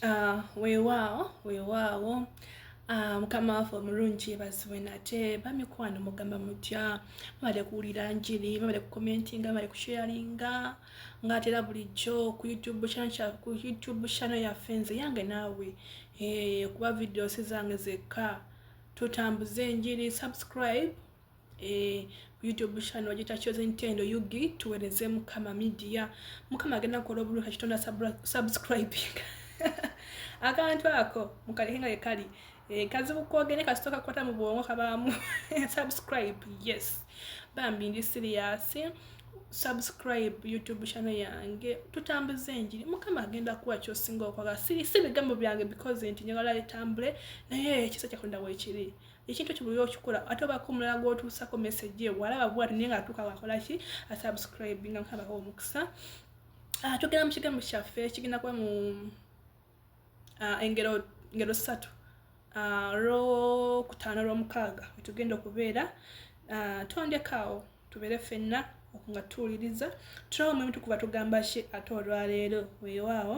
Ah, weewaawo weewaawo ah, mukama waffe omulungi yeebazibwe nate bamikwano mugamba mutya mubale kuwulira njiri mubale kukomentinga mubale kusheyalinga ngaatera bulijjo ku youtube ku youtube channel yaffe nze yange naawe eh, kuba videos zange zekka tutambuze enjiri subscribe eh, youtube channel gita chosen tendo yugi tuwereze mukama media mukama agenda kola obulu kakitonda subscribe akantu ako mukali hinga kali eh, kazi bukoge ne kasitoka kwata mu bwongo kabamu subscribe yes bambi ndi serious subscribe youtube channel yange tutambuze enjiri mukama agenda kuwa kyosinga okwagala siri si bigambo byange because nti njagala etambule naye ekisa kyakonda wekiri ekintu ekyo buli okikola ate obako omulala gwotuusako message eyo walaba bwati naye nga atuuka wakola ki asubscribe nga nkabaho omukisa ah, tugenda mu kigambo kyaffe kigenda kuba mu ah, engero ngero ssatu ah, lwokutaano lwomukaaga wetugenda okubeera tondekaawo tubeere ffenna nga tuwuliriza tulawo mwemutukuba tugamba ki ate olwaleero wewaawo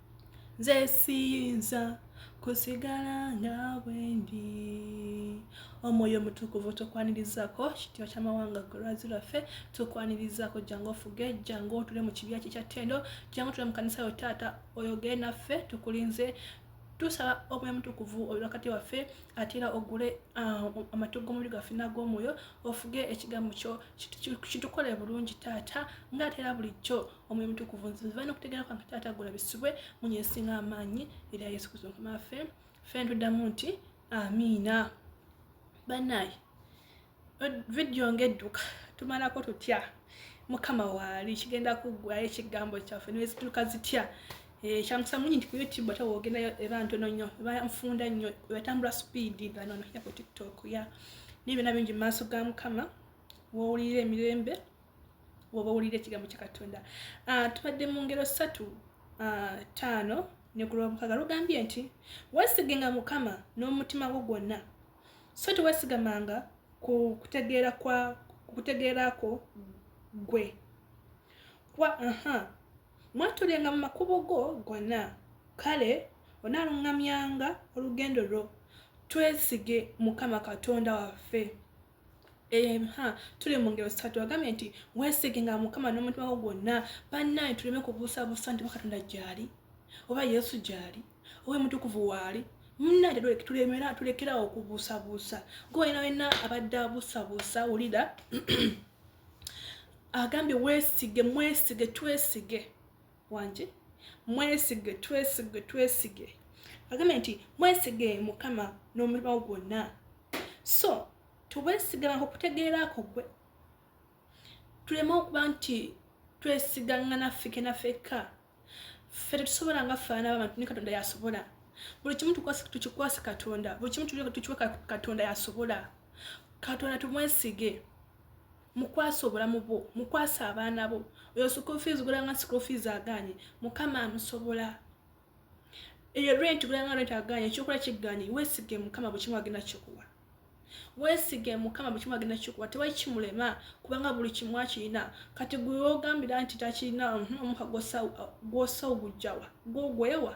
nze siyinza kusigala nga bwendi omwoyo omutukuvu tukwanirizako kitiwa kyamawanga golwazi lwaffe tukwanirizako jangu ofuge jangu otule mu kibya kikya tendo jangu otule mu kanisa yo taata oyogere naffe tukulinze tusaba omwoyo mutukuvu oli wakati waffe ate era ogule ah, amatu g'omubiri gwaffe nag'omwoyo ofuge ekigambo kyo kitukole bulungi taata ngaatera bulijjo omwoyo mutukuvu nziva nokutegeera kwange taata gula bisibwe munye esinga amaanyi erya yesu kristo mukama waffe ffe ntuddamu nti amiina banaye vidiyo ngaedduka tumalako tutya mukama waali kigenda kuggwayo ekigambo kyaffe nezituuka zitya eh, kyamusa munyi nti ku youtube ate wogenda eba ntono nnyo eba nfunda nnyo ebatambula supiidi ganono ya ku tiktok ya naye byona bingi mu maaso ga mukama wowulirira emirembe woba owulira ekigambo kya katonda ah, tubadde mu ngero ssatu ah, taano ne ku lwamukaga lugambye nti wesigenga mukama n'omutima gwo gwonna so tewesigamanga ku kutegeera kwa kutegeera kwo gwe kuba aha mwatulenga mu makubo go gonna kale onaalungamyanga olugendo lwo twesige mukama katonda waffe emha tuli mu ngero ssatu agambye nti weesiginga mukama n'omutima gwo gwonna bannaye tuleme kubuusabuusa nti bakatonda gyali oba yesu gyali oba omutukuvu waali munnange tulemera tulekerawo okubuusabuusa gwolina wena abadde abuusabuusa wulira agambye weesige mwesige twesige wangi mwesige twesige twesige agambye nti mwesige mukama n'omulimawo gwonna so tubwesiganako kutegeeraako gwe tuleme okuba nti twesigangana fikena fekka ffe tetusobola nga faana babantu ne katonda yasobola buli kimu tukikwase katonda buli kimu tukiwe katonda yasobola katonda tumwesige mukwasa obulamu bwo mukwasa abaana bo oyo school fees gulanga school fees aganye mukama amusobola eyo rent gulanga rent aganye ekyokola kiganye wesige mukama bukimu agenda kikuwa wesige mukama bukimu agenda kikuwa tewali kimulema kubanga buli kimu akirina kati gwe ogambira nti takirina mhm, omuka gwosa ogujjawa gwogwewa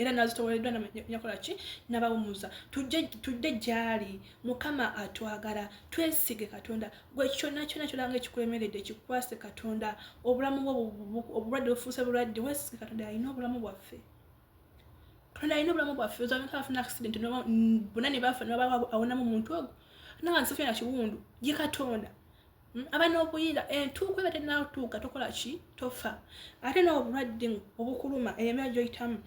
era nazitowereddwa nakola ki nabawumuza tudde gyali mukama atwagala twesige katonda gwe kyona kyona kyolanga ekikulemeredde kikwase katonda obulamu bwo obulwadde bufuuse bulwadde wesige katonda alina obulamu bwaffe katonda alina obulamu bwaffe ozamika afuna accident bona nebafa nabawa awonamu muntu ogwo nawansi fena kiwundu ye katonda Hmm? aba n'obuyira entuuko eba tenatuuka tokola ki tofa ate n'obulwadde obukuluma emyaka gyoyitamu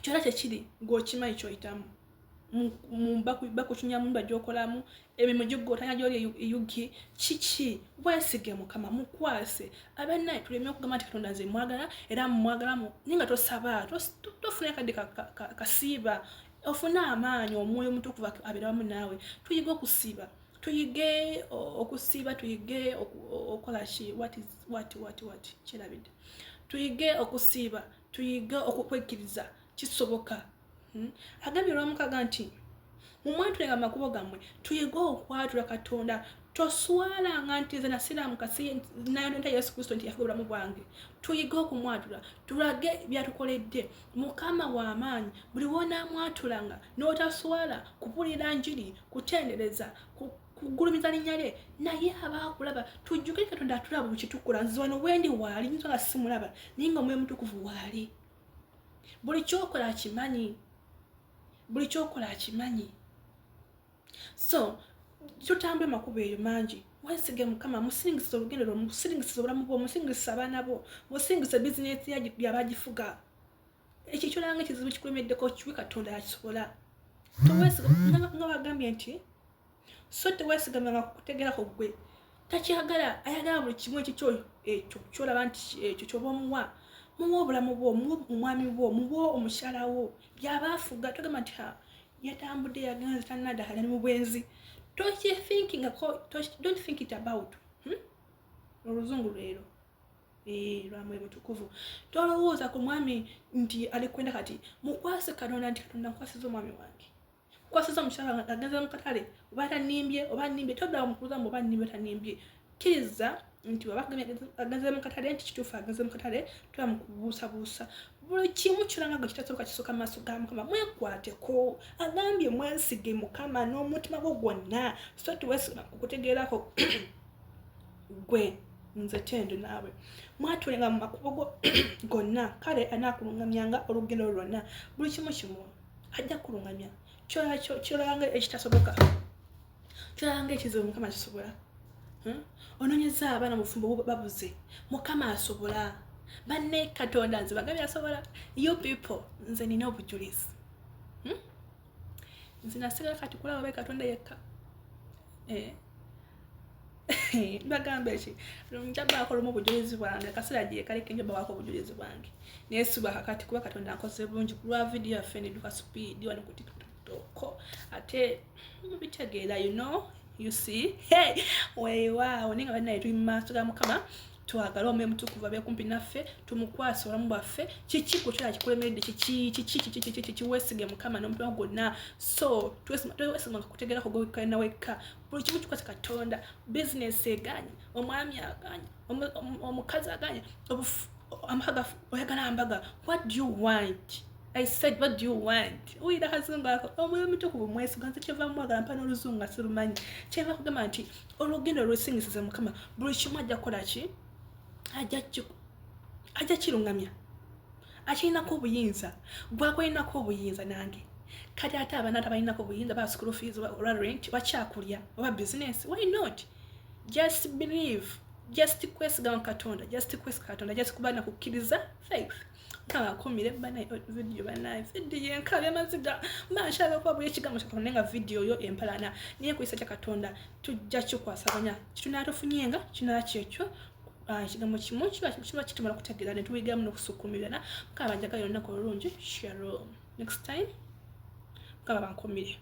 kyona kyekiri gweokimanyi kyoyitamu bakukinya mumba gyokolamu emirimu gigotanya gyoli eyugi kiki wesige mukama mukwase abanaye tuleme okugamba nti katonda nze mwagala era mumwagalamu naye nga tosaba tofuna akadde kasiiba ofune amaanyi omwoyo omutukuva aberawamu naawe tuyiga okusiiba tuyige okusiiba tuyige okukola ki wati wati wati wati kirabidde tuyige okusiiba tuyige okukwekkiriza kisoboka hmm? agambye olwamukaga nti mumwatulenga amakubo gammwe tuyige okwatula katonda toswalanga nti nze nasiraamu kasi nayonenta yesu kristo nti yafuga obulamu bwange tuyige okumwatula tulage byatukoledde mukama w'amaanyi buli wonaamwatulanga n'otaswala kupulira njiri kutendereza kugulumiza linnya lye naye aba akulaba tujjuke katonda atulaba mukitukula nze wano wendi waali nyinza nga simulaba naye nga omwoyo mutukuvu waali buli kyokola akimanyi buli kyokola akimanyi so totambula makubo eyo mangi wesige mukama musingisa olugendo lwo musingisa obulamu bwo musingisa abaana bo musingisa bizinesi yabagifuga ekyo kyolanga ekizibu kikulemeddeko kiwe katonda yakisobola nga wagambye nti so tewesigamanga kukutegerako gwe takyagala ayagala buli kimu ekyo kyoyo ekyo kyolaba nti ekyo kyoba omuwa muwa obulamu bwo muwa omwami bwo muwa omukyala wo byaba afuga togamba nti yatambudde yagenda nze tanada ali mu bwenzi tokithinkingako don't think it about hmm? oluzungu lwero eh, lwamwe mutukuvu tolowooza ku mwami nti ali kwenda kati mukwase katonda nti katonda nkwasiza omwami wange kwasiza omukyala agenza mukatale oba tanimbye oba nimbye todda mukuluzamu oba nimbye tanimbye kkiriza nti waba agenze mu katale nti kituufu agenze mu katale tuba mu kubuusabuusa buli kimu kyona nga gwe kitasooka kisooka maaso ga mukama mwekwateko agambye mwesige mukama n'omutima gwo gwonna so tiwesima kukutegeerako gwe nze tendo naawe mwatulenga mu makubo go gonna kale anaakulungamyanga olugendo lwonna buli kimu kimu ajja kulungamya kyolanga ekitasoboka tulabanga ekizibu mukama kisobola hmm? ononyeza abaana mufumbo babuze mukama asobola banne katonda nze bagabi asobola you people nze nina obujulizi hmm? nze nasigala kati kulaba be katonda yekka eh. bagamba eki njabaako lumu obujulizi bwange akaseera gyekaleka njabawaako obujulizi bwange naye siba kakati kuba katonda nkoze bulungi kulwa vidiyo yaffe neduka sipiidi wano ku tiktok ate mubitegeera you know you see hey weewaawo naye nga banaye tuli mu maaso ga mukama twagale omwoyo mutukuvu abe kumpi naffe tumukwasa obulamu bwaffe kiki kukyala kikulemedde kikikikikikikikikiwesige mukama n'omutima gwonna so twesimanga kutegerako gwewekkalina wekka buli kimu kikwasa katonda bizinesi eganyi omwami aganyi omukazi aganye amaga oyagala mbaga what do you want i said what do you want uyira akazungu ako omwoyo omutukuvu mwesiga nze kyeva mwagala mpa n'oluzungu nga sirumanyi kyeva kugamba nti olugendo olwesingisiza mukama buli kimu ajja kukola ki ajja kirungamya akirinako obuyinza gwakulinako obuyinza nange kati ate abana tabalinako obuyinza ba school fees oba rent bakyakulya oba business why not just believe just kwesiga mu katonda just kwesiga katonda just kuba nakukkiriza faith nkaba akumire banaye oh, vidiyo banaye vidiyo enkaba emaziga mba nkyala okuba buli ekigambo kya katonda nga vidiyo yo empalana naye kuyisa kya katonda tujja kikwasaganya kitunaatufunyenga kinala kyekyo ah, ekigambo kimu kiba kiba kitumala kutegeera ne tuyigamu n'okusukumirana mukaba banjagayo olunaku olulungi sharo next time mukaba bankumire